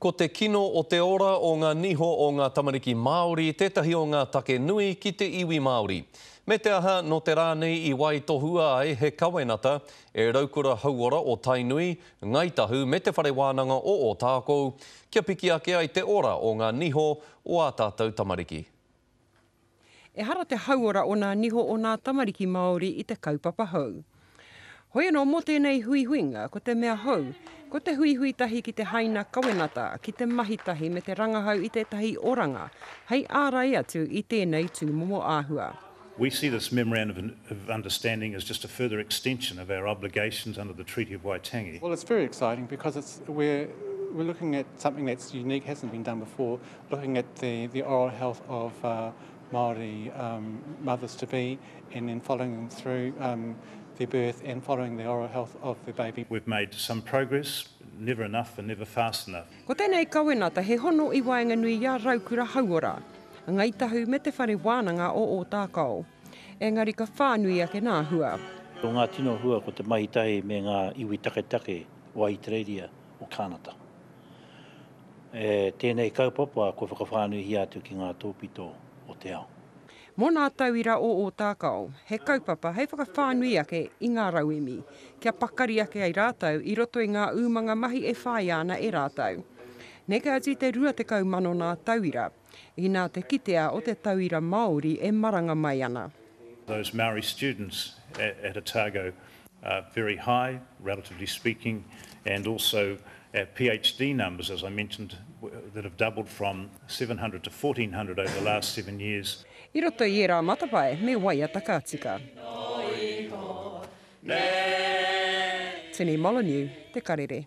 Ko te kino o te ora o ngā niho o ngā tamariki Māori tētahi o ngā take nui ki te iwi Māori. Me te aha, nō te rā nei i waitohua ai he kawenata e Raukura Hauora o Tainui, Ngāi Tahu me Te Whare Wānanga o Ōtākou kia piki ake ai te ora o ngā niho o ā tātou tamariki. Ehara te hauora o nā niho o nā tamariki Māori i te kaupapa hou. Hoi anō mō tēnei huihuinga, ko te mea hou, ko te huihui tahi ki te haina kawenata, ki te mahi tahi me te rangahau i tētahi oranga hei ārai atu i tēnei tūmomo āhua. We see this Memorandum of Understanding as just a further extension of our obligations under the Treaty of Waitangi. Well it's very exciting because it's we're we're looking at something that's unique, hasn't been done before, looking at the the oral health of uh, Māori um, mothers to be and then following them through um, their birth and following the oral health of the baby. We've made some progress, never enough and never fast enough. Ko tēnei kawenata he hono i waenganui i a Raukura Hauora, Ngai Tahu me Te Whare Wānanga o Ōtākao. Engari ka whānui ake nā hua. Ko ngā tino hua ko te mahitahi me ngā iwi taketake o Ahitereiria, o Kānata. E tēnei kaupapa kua whakawhānuihia atu ki ngā tōpito o te ao. Mō nā tauira o Ōtākao, he kaupapa hei whakawhānui ake i ngā rauemi, kia pakari ake ai rātou i roto i ngā umanga mahi e whāia ana e rātou. Neke atu i te 20 mano nā tauira. Inā te kitea o te tauira Māori e maranga mai ana. Those Maori students at Otago are very high, relatively speaking, and also our PHD numbers, as I mentioned, that have doubled from 700 to 1400 over the last seven years. I roto i ērā matapae me waiata ka tika. Tini Molyneux, Te Karere.